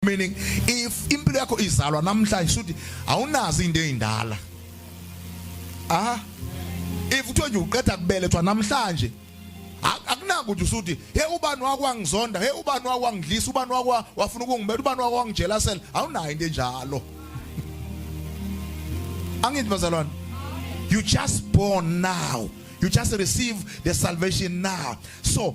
meaning if impilo yakho izalwa namhlanje suthi awunazi into ezindala ah if uthiwa nje uqeda kubelethwa namhlanje akunanga ukuthi usuthi he ubani wakwangizonda he ubani wakwangidlisa ubani wakwa wafuna ukungibetha ubani wakwangijelasela awunayo into enjalo angithi bazalwane you just born now you just receive the salvation now so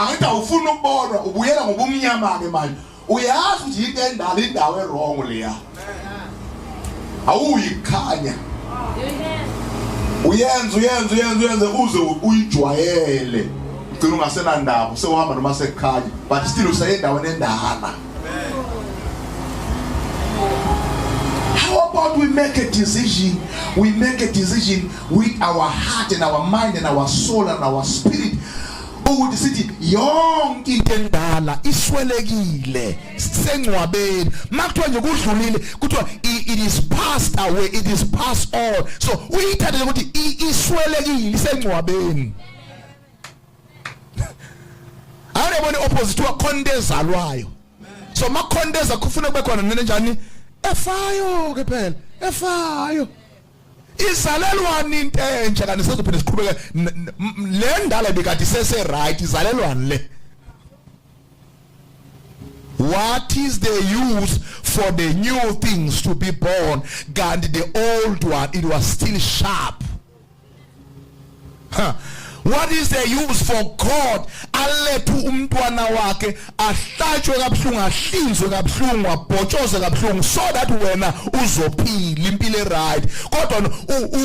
angithi awufuni ukubonwa ubuyela ngobumnyama-ke manje uyazi ukuthi yinto endala indawo erongo leya awuyikhanya uyenza uyenza uyenza uyenze uze uyijwayele ugcina ungasenandaba sewuhamba noma sekukhanya but still useyendaweni endala How about we make a decision? We make a decision with our heart and our mind and our soul and our spirit. ukuthi sithi yonke into endala iswelekile sengcwabeni makuthiwa nje kudlulile kuthiwa it is passed away it is passed on so uyithathele ukuthi iswelekile isengcwabeni awuyabona opposite wa khonto ezalwayo so makhonto eza kufuna kube khona nene njani efayo ke phela efayo izalelwani into entsha kanti sizophinde siqhubeke le ndala bikade isese right izalelwani le What is the use for the new things to be born? God, the old one, it was still sharp. huh. what is the use for god alethe umntwana wakhe ahlatshwe kabuhlungu ahlinzwe kabuhlungu abhotshoze kabuhlungu so that wena uzophila impilo eright kodwa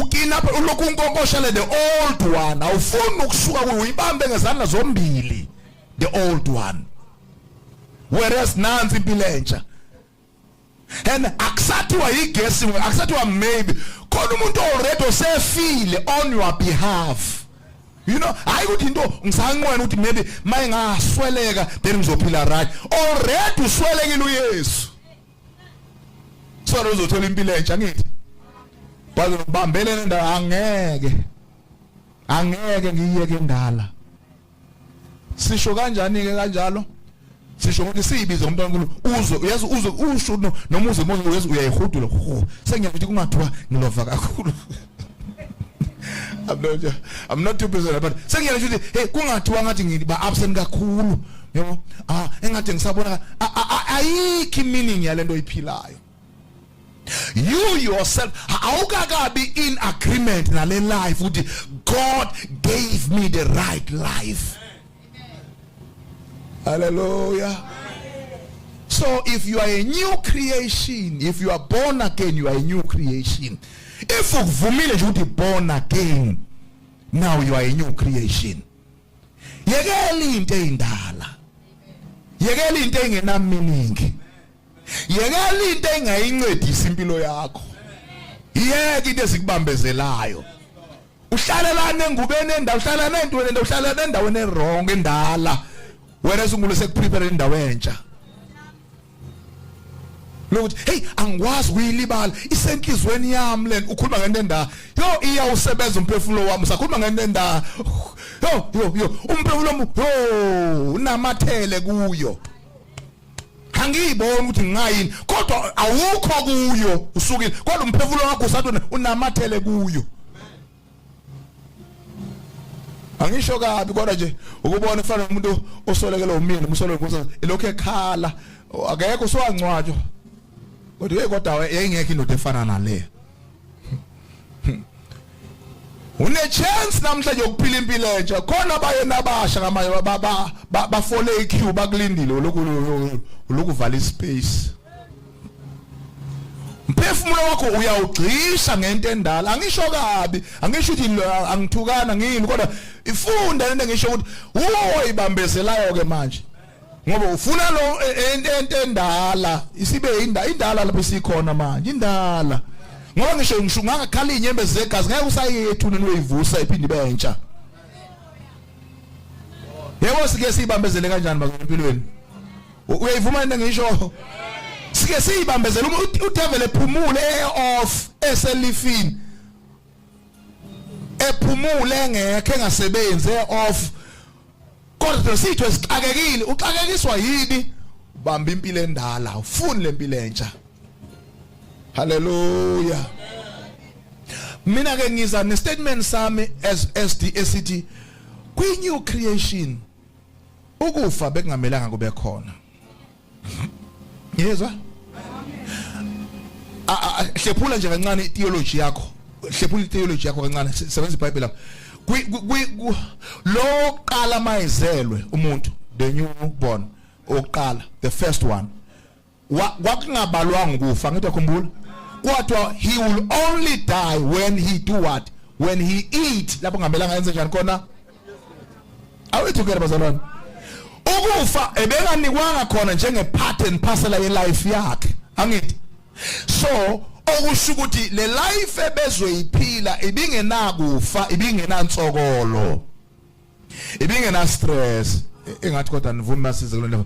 ukina ulokhu unkonkoshele the old one awufuni ukusuka kuyo uyibambe ngezandla zombili the old one whereas nansi impilo entsha and akusathiwa yigesi akusathiwa maybe khona umuntu already osefile on your behalf you know hayi ukuthi into ngisanqwena ukuthi maybe maye ngasweleka then ngizophila right already uswelekile uyesu sona uzothola impilo entsha ngithi baze ngibambele nendawo angeke angeke ngiyeke ndala sisho kanjani ke kanjalo sisho ukuthi siyibize umntwana uNkulunkulu uzwe uyazi uzwe usho noma uze muze uyazi uyayihudula sengiyakuthi kungathiwa ngilova kakhulu I'm not I'm not too busy but sengiyakuthi ukuthi hey kungathiwa ngathi ngiba absent kakhulu yebo ah engathi ngisabona ayikho meaning yalento oyiphilayo you yourself awukakabi in agreement nale life ukuthi god gave me the right life hallelujah so if you are a new creation if you are born again you are a new creation if ukuvumile nje ukuthi born again now you are a new creation yekela into eyindala yekela into engenaminingi yekela into engayincedisi impilo yakho yeke into ezikubambezelayo uhlalelana engubeni endawo uhlalelana entweni endawo uhlalelana endaweni ewrong endala wena sungulu sekuprepare indawo entsha lokuthi hey angikwazi kuyilibala isenhlizweni yami lena ukhuluma ngento endala yo iya usebenza umphefumulo wami usakhuluma ngento endala yo yo yo umphefumulo yo unamathele kuyo angiyiboni ukuthi ngingayini kodwa awukho kuyo usukile kodwa umphefumulo wakho usathi unamathele kuyo angisho kabi kodwa nje ukubona kufanele umuntu osolekele umyeni umsolwe ngokuthi lokho ekhala akekho usowangcwatshwa kodwa hey kodwa yayingekho indoda efana naleyo une chance namhlanje yokuphila impilo entsha khona abayena abasha ngamanye baba bafole iqueue bakulindile lokhu lokuvala ispace umphefumulo wakho uyawugxisha ngento endala angisho kabi angisho ukuthi angithukana ngini kodwa ifunda lento ngisho ukuthi uyoyibambezelayo ke manje ngoba ufuna lo e, e, ento endala isibe indala indala lapho sikhona manje indala ngoba ngisho ngisho ungakhala inyembe zegazi ngeke usayethu nini uyivusa iphinde ibe entsha yebo sike siyibambezele kanjani bazempilweni uyayivuma into ngisho sike siyibambezele uma udevil ephumule eoff eselifini ephumule engekho engasebenzi eoff Kodwa sitho esixakekile uxakekiswa yini? Bamba impilo endala, ufuni lempilo entsha. Hallelujah. Mina ke ngiza ne statement sami as SD esithi kwi new creation ukufa bekungamelanga kube khona. yezwa hlephula nje kancane theology yakho hlephula theology yakho kancane sebenza iBhayibheli lapha lo qala mayizelwe umuntu the new born oqala the first one kwakungabalwanga ukufa ngithi akhumbula kodwa he will only die when he do what when he eat lapho ngamelanga enze njani khona awethukela bazalwane ukufa ebenganikwanga khona njenge part and parcel ye life yakhe angithi so okusho ukuthi le life ebezoyiphila ibingenakufa ibingenantsokolo ibingena stress engathi kodwa nivumi masize kule nto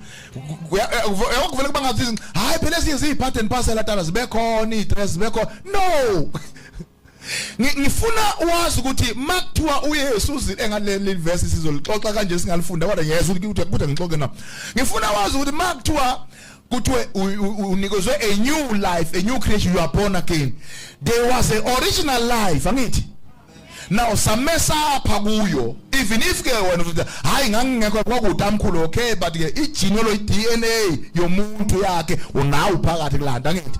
uyakuvela ukuba ngathi hayi phela ezinye ziyiphathe nipasela tala zibekhona iitres zibekhona no ngifuna wazi ukuthi makuthiwa uYesu uzile engaleli verse sizolixoxa kanje singalifunda kodwa ngiyeza ukuthi ukuthi ngixoxe na ngifuna wazi ukuthi makuthiwa kuthiwe unikezwe a new life a new creation you are born again there was a original life angithi now samesapha kuyo even if ke wena uthi hayi ngangingekho kwakude amkhulu okay but ke igenealogy DNA yomuntu yakhe unawo phakathi kulanda ngithi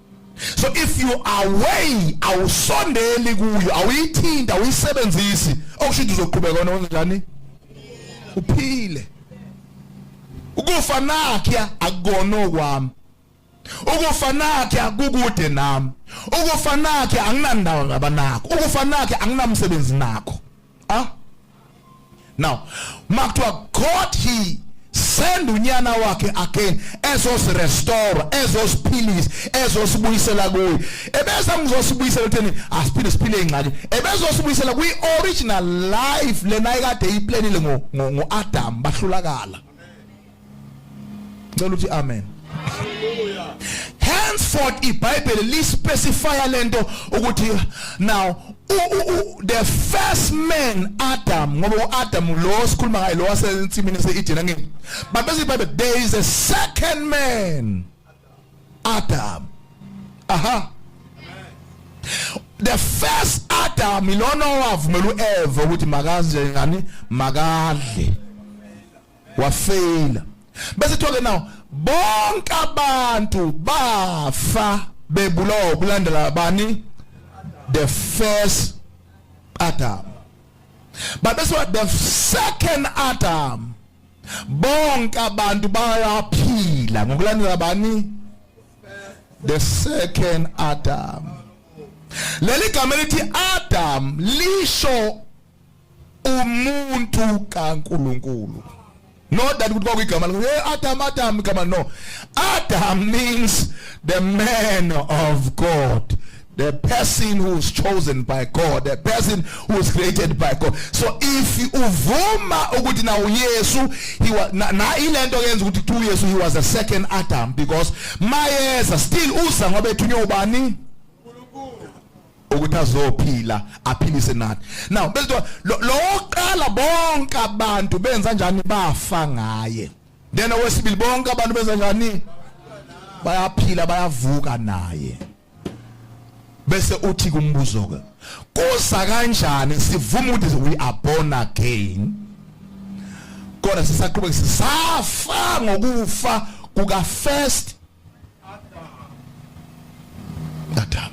so if you are away awusondeli kuyo awuyithinta awuyisebenzisi okusho ukuthi uzoqhubeka wena kanjani uphile ukufa nakhe akukona okwami ukufa nakhe kukude nami ukufa nakhe anginandawo ngabanakho ukufa nakhe anginamsebenzi nakho ah now makuthiwa god he send unyana wakhe again ezosirestore ezosiphilisa ezosibuyisela kuye ebeza ngizosibuyisela kutheni asiphinde siphile ingxaki ebezosibuyisela kwi-original life lena ikade iyiplanile ngo-adam bahlulakala ngicela ukuthi amen henceforth ibhayibheli lispecifya lento ukuthi now the first man Adam ngoba uAdam lo sikhuluma ngaye lo wasensimini seEden angeke babese ibhayibheli there is a second man Adam. Aha. The first Adam ilona owavumela uEva ukuthi makaze ngani makadle. Wafeyila. Bese thoke now bonke abantu bafa bebulawa ukulandela bani the first Adam. But that's what the second Adam bonke abantu bayaphila ngokulandela bani the second adam leli gama elithi adam lisho umuntu kaNkuluNkulu not that ukuthi kwakuyigama lakho hey adam adam igama no adam means the man of god The person who is chosen by God, the person who is created by God. So if uvuma ukuthi na uYesu, he was na, na ilento yenza ukuthi kuthiwa uYesu he was a second Adam because mayeza still uza ngoba ethunywe ubani? ukuthi azophila aphilise nathi now bese lo oqala bonke abantu benza njani bafa ngaye then owesibili bonke abantu benza njani bayaphila bayavuka naye bese uthi kumbuzo ke kuza kanjani sivuma ukuthi we are born again kodwa sisaqhubeka sisafa ngokufa kuka first Adam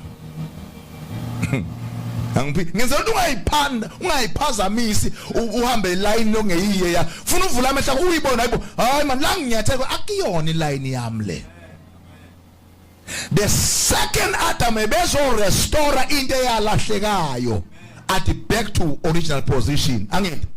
angiphi ngenza ukuthi ungayiphanda ungayiphazamisi uhambe iline longeyiye ya funa uvula amehla uyibona hayibo hayi man la nginyatheko akuyona iline yami le the second adam ebezorestore into eyalahlekayo athi back to original position angithi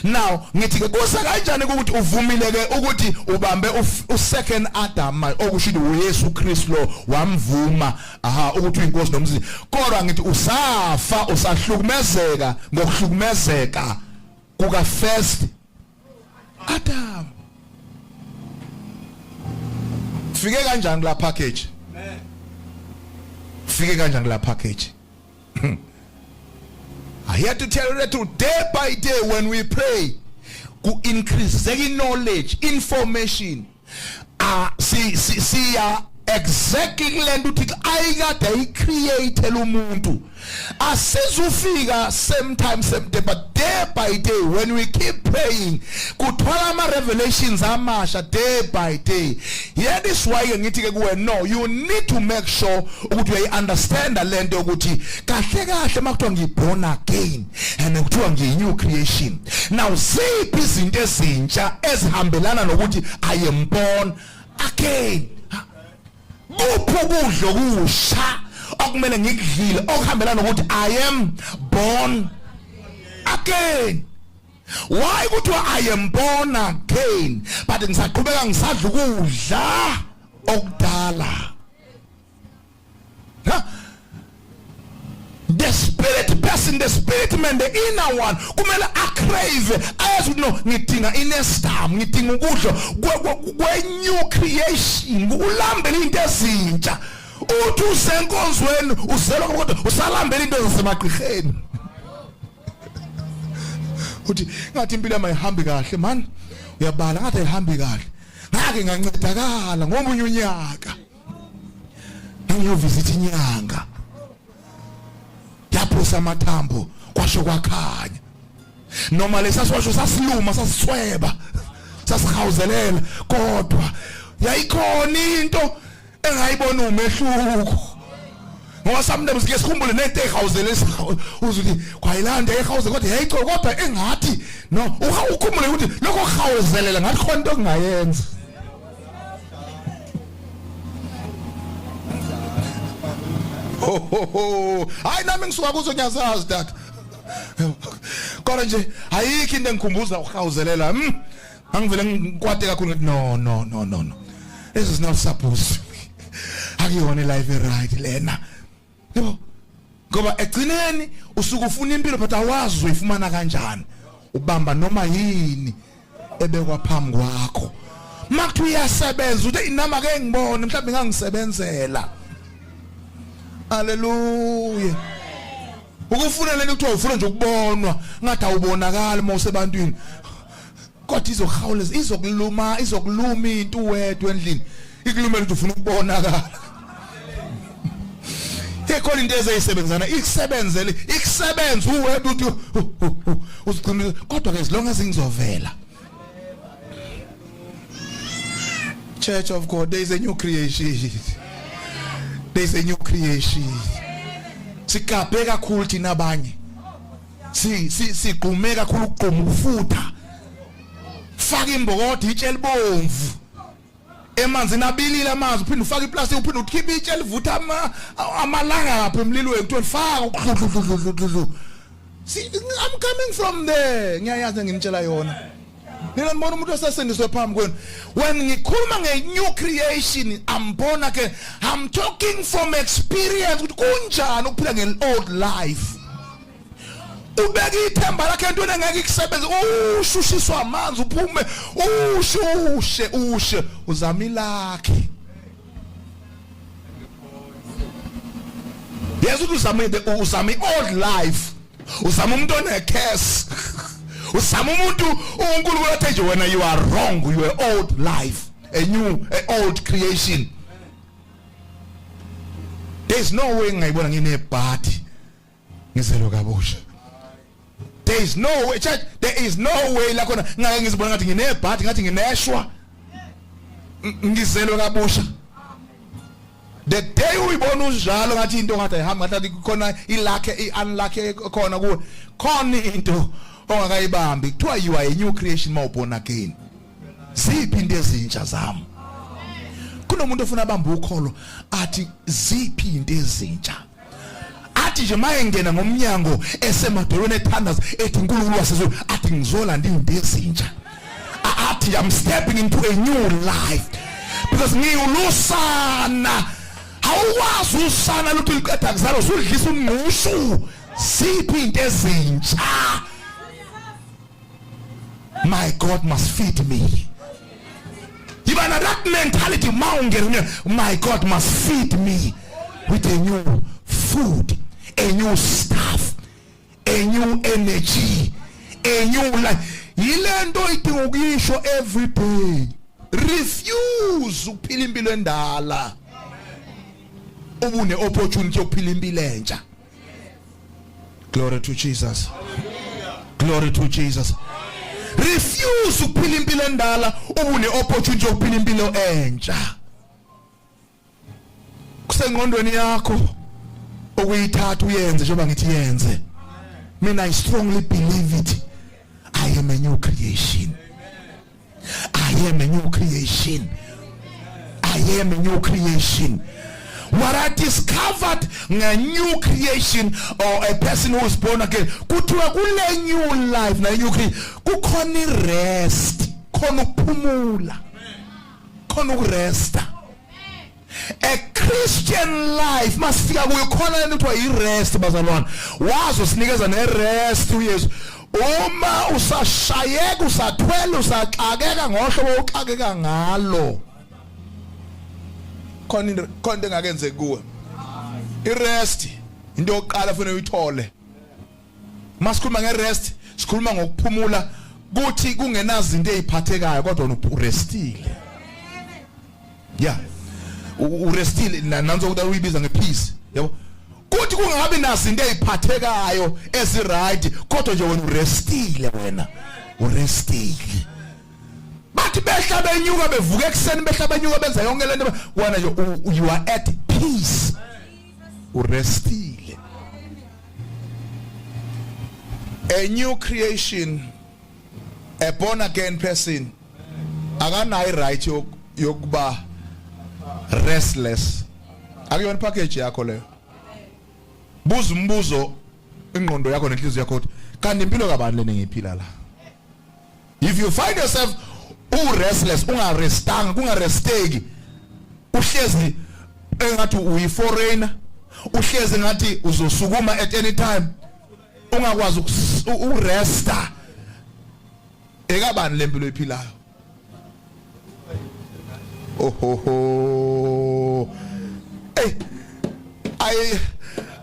now ngithi ke kusa kanjani ukuthi uvumile ke ukuthi ubambe u second adam okusho ukuthi uYesu Kristu lo wamvuma aha ukuthi uyinkosi nomsisi kodwa ngithi usafa usahlukumezeka ngokuhlukumezeka kuka first Adam Fike kanjani la package Fike kanjani la package hmm. I had to tell you that day by day when we pray ku increase knowledge information ah si si siya exactly kulento uthixo ayikade ayicreate umuntu asizufika same time same day but day by day when we keep praying kuthola ama revelations amasha day by day yeah this why ke ngithi ke kuwe no you need to make sure ukuthi uyayi understand lento ukuthi kahle kahle makuthiwa ngiborn again and kuthiwa ngiyi-new creation now ziphi izinto ezintsha ezihambelana nokuthi i am born again kuphi ukudla okusha okumele ngikudlile okuhambelana nokuthi i am born again why kuthiwa i am born again but ngisaqhubeka ngisadla ukudla okudala huh? the spirit person the spirit man the inner one kumele acrave ayazi ukuthi no ngidinga inestam ngidinga ukudla kwe-new creation ulambele into ezintsha uthi usenkonzweni uzelwa kodwa usalambela into zasemagqirheni uthi ngathi impilo yami ayihambi kahle man uyabala ngathi ayihambi kahle ngake ngancedakala ngomunye unyaka ngiyovisit inyanga yaphosa amathambo kwasho kwakhanya noma lesaswasho sasiluma sasisweba sasihawuzelela kodwa yayikhona into engayibona umehluko ngoba sometimes ke sikhumbule nento ehawuzele uze uthi kwayilanda ehawuze kodwa yayico kodwa engathi no ukhumule ukuthi lokho hawuzelela ngathi khona into ongayenza hayi nami ngisuka kuzo ngiyazazi dad kodwa nje ayikho into engikhumbuza ukuhawuzelela mm angivele ngikwate kakhulu ngithi no no no no no this is not supposed akuyona life right lena yebo ngoba egcineni usuke ufuna impilo but awazi uzoyifumana kanjani ubamba noma yini ebekwa phambi kwakho makuthiwa iyasebenza uthi inama ke ngibone mhlawumbe ngangisebenzela haleluya ukufuna lento kuthiwa ufuna nje ukubonwa ngathi awubonakali uma usebantwini kodwa izohawuleza izokuluma izokuluma into wedwa endlini ikulumela ukuthi ufuna ukubonakala ikhona into ezeyisebenzana ikusebenzele ikusebenza uwedwa uthi uziqinile kodwa ke zilonga zingizovela church of god there is a new creation there is a new creation sikabhe kakhulu thina abanye si si sigqume kakhulu ukugquma ukufutha faka imbokodo itshe elibomvu emanzini abilile amanzi uphinde ufake iplastic uphinde ukhiphe itshe elivutha ama amalanga lapha emlilweni kuthiwa faka ukudludludludludlu I'm coming from there ngiyayazi ngimtshela yona nina nibona umuntu osesindiswe phambi kwenu when ngikhuluma nge-new creation ambona ke i'm talking from experience ukuthi kunjani ukuphila nge-old life ubeka ithemba lakhe entweni engeke ikusebenze ushushiswa amanzi uphume ushushe ushe uzama ilakhe yazi ukuthi uzama uzama i-old life uzama umuntu onecase uzama umuntu unkulunkulu athe nje wena you are wrong you are old life a new a old creation there's no way ngayibona nginebhadi ngizelwe kabusha there is no way church there is no way la khona ngake ngizibona ngathi nginebhadi ngathi ngineshwa ngizelwe kabusha the day uyibona unjalo ngathi into ngathi ayihamba ngathi khona ilakhe iunlucky khona kuwe khona into ongakayibambi kuthiwa you are a new creation mawubona again ziphi into ezintsha zami kunomuntu ofuna abambe ukholo athi ziphi into ezintsha athi nje maye ngena ngomnyango esemadolweni ethandaza ethi uNkulunkulu wasezulu athi ngizolanda into ezintsha athi I'm stepping into a new life because ngiwulusana awukwazi usana lutho liqeda kuzalo usudlisa umngqushu siphi into ezintsha my god must feed me yiba na that mentality ma ungena my god must feed me with a new food a new stuff a new energy a new life yile nto idinga ukuyisho every day refuse ukuphila impilo endala ubune opportunity yokuphila impilo entsha glory to jesus glory to jesus refuse ukuphila impilo endala ubune opportunity yokuphila impilo entsha kusengqondweni yakho ukuyithatha uyenze njengoba ngithi yenze mina i strongly believe it i am a new creation I am a new creation. I am a new creation. What I discovered a new creation or a person who is born again kuthiwa kule new life na new creation kukhona irest khona ukuphumula khona ukuresta a christian life masifika kuyo khona lento kuthiwa i-rest bazalwane wazi usinikeza ne-rest uyesu uma usashayeka usathwele usaxakeka ngohlobo uxakeka ngalo khona into khona into engakenzeki kuwe i-rest into yokuqala fanele uyithole masikhuluma ngerest sikhuluma ngokuphumula kuthi kungenazinto eziphathekayo kodwa urestile yeah urestile nanzo kuda uyibiza ngepeace yabo kuthi kungabi nazinto eziphathekayo eziright kodwa nje wena urestile wena urestile bathi behla benyuka bevuka ekuseni behla benyuka benza yonke lento wena nje you are at peace urestile a new creation a born again person akanayi right yokuba restless akuyona package yakho leyo buza umbuzo ingqondo yakho nenhliziyo yakho kanti impilo kabani leni ngiphila la if you find yourself u restless unga restanga kunga resteki uhlezi engathi uyi foreigner uhlezi ngathi uzosukuma at any time ungakwazi ukuresta ekabani lempilo ephilayo Ohoho. Hey. I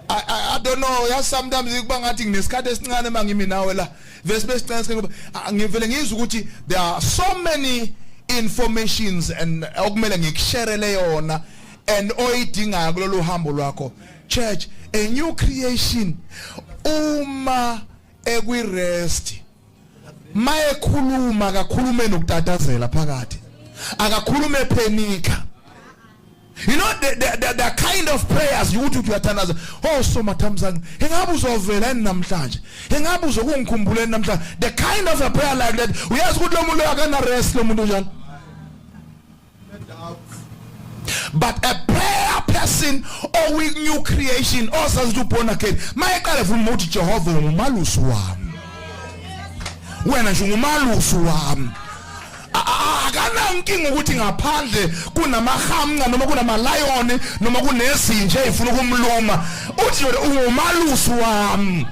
I I don't know. Yeah, sometimes kuba ngathi nginesikhathi esincane mangimi nawe la. Vese besicela sikhe ngivele ngizwe ukuthi there are so many informations and okumele ngikusherele yona and oyidingayo kulolu hambo lwakho. Church, a new creation uma ekwi rest mayekhuluma akakhulume nokutatazela phakathi akakhulume phenika You know the, the, the, the kind of prayers you ukuthi uyathandaza. Oh so mathamzange. Ingabe uzovela yini namhlanje? Ingabe uzokungikhumbula yini namhlanje? The kind of a prayer like that. Uyazi ukuthi lo muntu akana rest lo muntu njalo. but a prayer person or with new creation or sazi to born again mayeqale vuma uthi Jehova ngumalusi wami wena nje ngumalusi wami akanankinga ukuthi ngaphandle kunamahamnqa noma kunamalayoni noma kunezinja ezifuna ukumluma uthi yona ungumalusi wami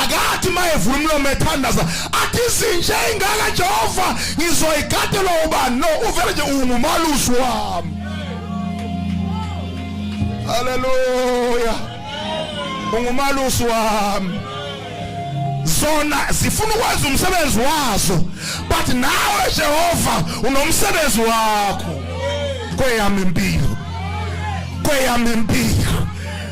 akathi mayevula umlomo ethandaza athi izinja ey'ngaka jehova ngizoyigatelwa ubani no uvele nje ungumalusi wami haleluya ungumalusi wami zona zifuna ukwenza umsebenzi wazo but nawe jehova unomsebenzi wakho kweyami impilo kweyami impilo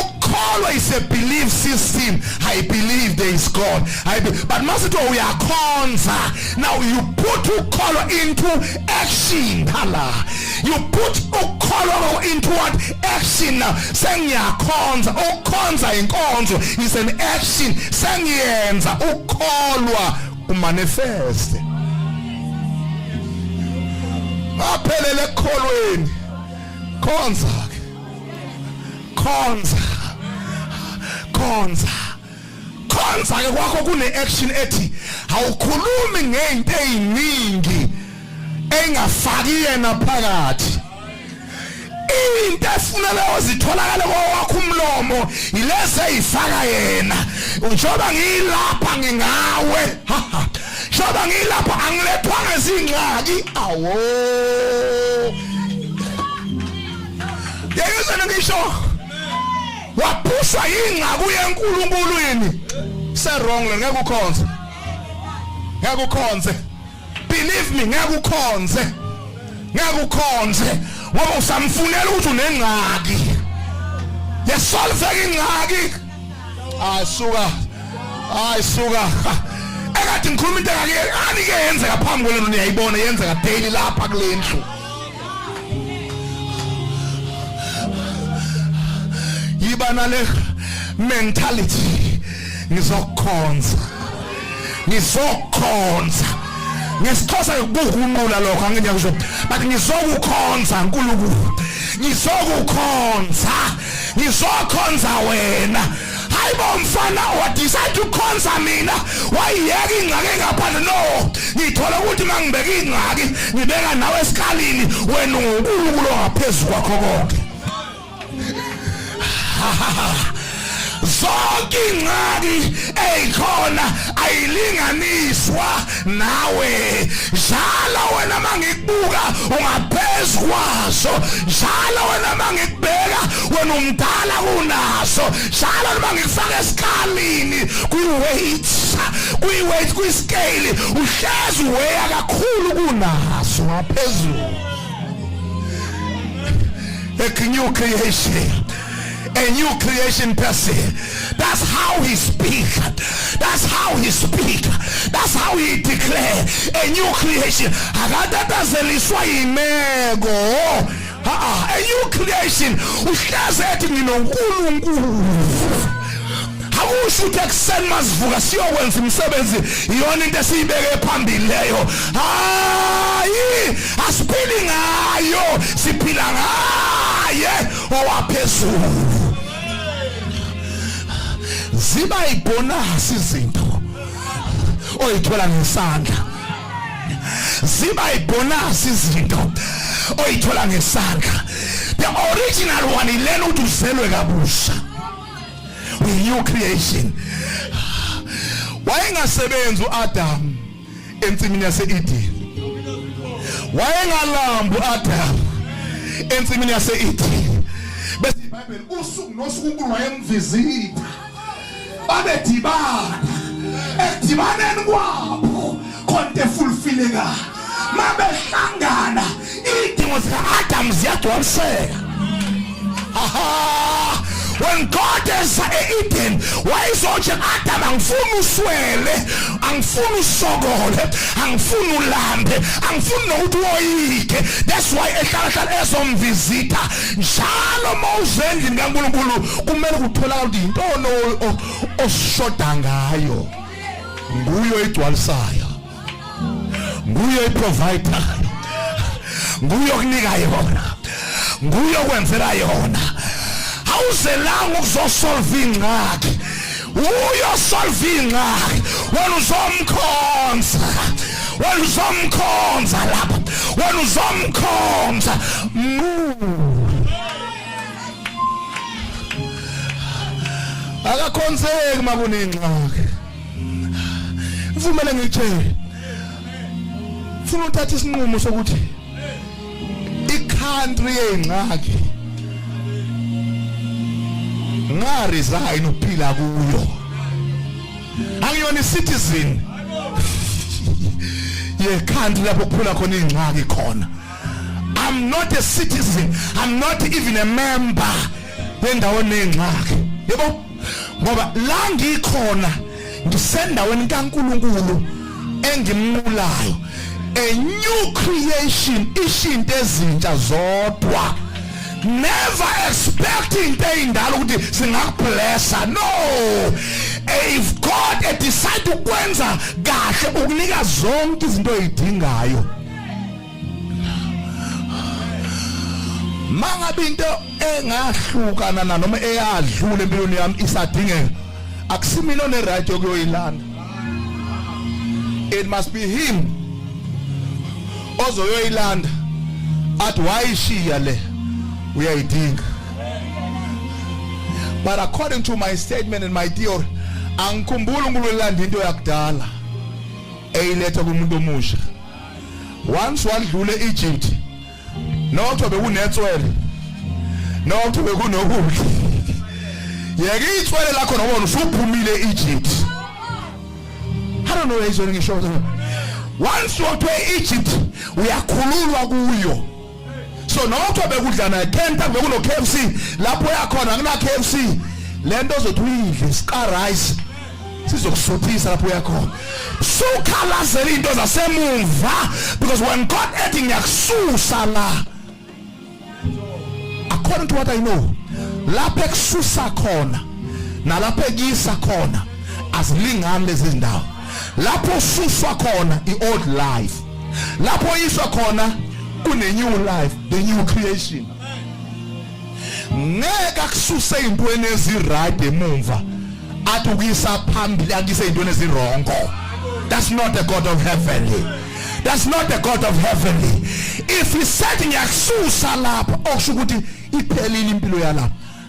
ukukholwa is a belief system i believe there is god I be, but masithi uyakhonza now you put ukholwa into action hala you put ukholwa into what action now sengiyakhonza ukukhonza inkonzo is an action sengiyenza ukholwa umanifeste aphelele ekholweni khonza khonza khonza khonza ke kwakho kune action ethi awukhulumi ngezinto eziningi engafaki yena phakathi into efunele ozitholakale kwakho umlomo ilezi eyifaka yena njengoba ngiyilapha ngingawe njengoba ngiyilapha angilethwanga izingxaki awo yeyizeni ngisho waphuswa yingcaku yenkulunkulu yini serong le ngeke ukhonze ngeke ukhonze believe me ngeke ukhonze ngeke ukhonze ngoba usamfunela ukuthi unengxaki yesolveka ingxaki asuka hayi suka ekade ngikhuluma into engake anike yenzeka phambi kwenu niyayibona yenzeka daily lapha kulendlu yiba nale mentality ngizokhonza ngizokhonza ngesixhosa kukunqula lokho angeke ngiyakusho but ngizokukhonza nkulunkulu ngizokukhonza ngizokhonza wena hayibo mfana wadecide ukhonza mina wayiyeka ingxaki engaphandle no ngithola ukuthi uma ngibeka ingxaki ngibeka nawe esikalini wena ungunkulunkulu ongaphezu kwakho konke zonke ingxaki eyikhona ayilinganiswa nawe njalo wena mangikubuka ungaphezu kwaso njalo wena mangikubeka wena umdala kunaso njalo noma ngikufaka esikhalini kwi-weight kwi-weight kwi-scale uhlezi weya kakhulu kunaso ngaphezulu a new creation a new creation person. That's how he speak. That's how he speak. That's how he declare a new creation. Akatatazeliswa imeko. Ah, a new creation. Uhleze ethi nginoNkulunkulu. akusho ukuthi ekuseni masivuka siyokwenza umsebenzi iyona into esiyibeke phambili leyo hayi asiphili ngayo siphila ngaye owaphezulu ziba ibonasi izinto oyithola ngesandla ziba ibonasi izinto oyithola ngesandla the original one ilena ukuthi uzelwe kabusha with new creation wayengasebenzi uAdam ensimini yase-Edeni wayengalambi u-Adamu ensimini yase-Edeni bese iBhayibheli usuku nosuku uNkulunkulu wayemvizita babedibana ekudibaneni kwabo konke fulfillekayo mabehlangana Idingo zika-Adamu ziyagcwaliseka. Aha! When God is e-Eden, wayezothi Adam angifuni uswele, angifuni usokole, angifuni ulambe, angifuni nokuthi woyike. That's why ehlala hlala ezomvisita. Njalo mawuze endlini kaNkulunkulu kumele kutholakala ukuthi yintoni oshoda ngayo. Nguyo igcwalisayo. nguye oyiprovider nguye okunika yona nguye okwenzela yona awuzelanga ukuzosolva ingxaki uyosolva ingxaki wena uzomkhonza wena uzomkhonza lapha wena uzomkhonza akakhonzeki makunengxaki ngivumele ngitshele funa uthatha isinqumo sokuthi icountry yengxaki nga resign uphila kuyo angiyona citizen ye country lapho kuphula khona ingxaki khona i'm not a citizen i'm not even a member yendawo nengxaki yebo ngoba la ngikhona ngisendaweni kaNkuluNkulu engimnqulayo a new creation ishinto ezintsha zodwa never expecting into eyindala ukuthi singakublessa no if god decide ukwenza kahle ukunika zonke izinto oyidingayo mangabe into engahlukana na noma eyadlula empilweni yami isadingeka akusimina one right yokuyoyilanda it must be him ozoyoyilanda athi wayishiya le uyayidinga but according to my statement and my theory angikhumbuli uNkulunkulu elanda into yakudala eyiletha kumuntu omusha once wadlula eEgypt nokho bekunetswele nokho bekunokudla yeke itswele lakho nobona usuphumile eEgypt I don't know where he's going to show once you're to Egypt uyakhululwa kuyo so nokho bekudlana ekhenta bekuno KFC lapho yakhona kuna KFC lento ozothi uyidle sika rice sizokusuthisa lapho uyakhona sukhalazela into zasemumva because when God ethi ngiyakususa la according to what I know lapho ekususa khona nalapho ekuyisa khona azilingani lezi zindawo lapho ususwa khona i-old life lapho yiswa khona kune new life the new creation ngeke akususe ezintweni eziright emumva athi ukuyisa phambili akuyise ezintweni ezirongo that's not the god of heaven that's not the god of heaven if he said ngiyakususa lapha okusho ukuthi iphelile impilo yalapha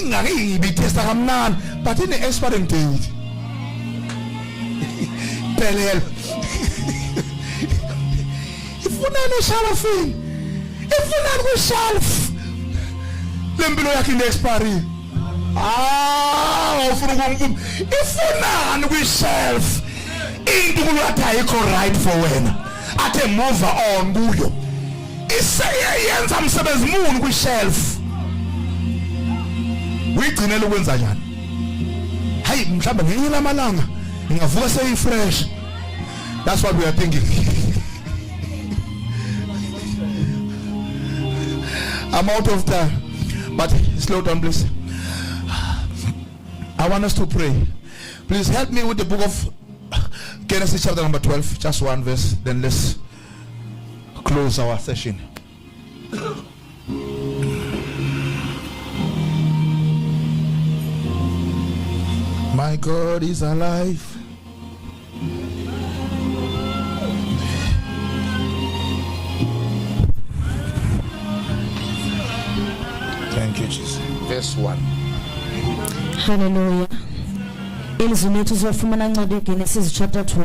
ingake ngibithesa kamnandi but ine expiring date phelelo ifunani eshalafini ifunani kwishelf lempilo yakhe ine expiry ah ufuna ukumvuma ifunani kwishelf into kulwatha ayikho right for wena athe move on kuyo iseyeyenza msebenzi muni kwishelf uyigcinela ukwenza njani hayi mhlawumbe ngenye lamalanga ngingavuka seyifresh that's what we are thinking I'm out of time but slow down please I want us to pray please help me with the book of Genesis chapter number 12 just one verse then let's Close our session. My God is alive. Thank you, Jesus. Verse 1. Hallelujah. Ilizwi lethu sizofumana ncwadi yeGenesis chapter 12.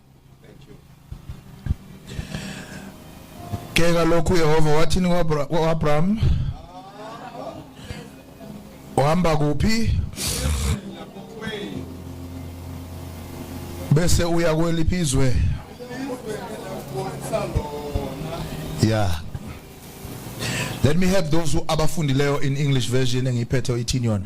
ke kalokhu Yehova wathini kwaAbraham uhamba kuphi bese uya kweliphi izwe yeah let me help those who abafundileyo in english version engiyiphethe oyithini yona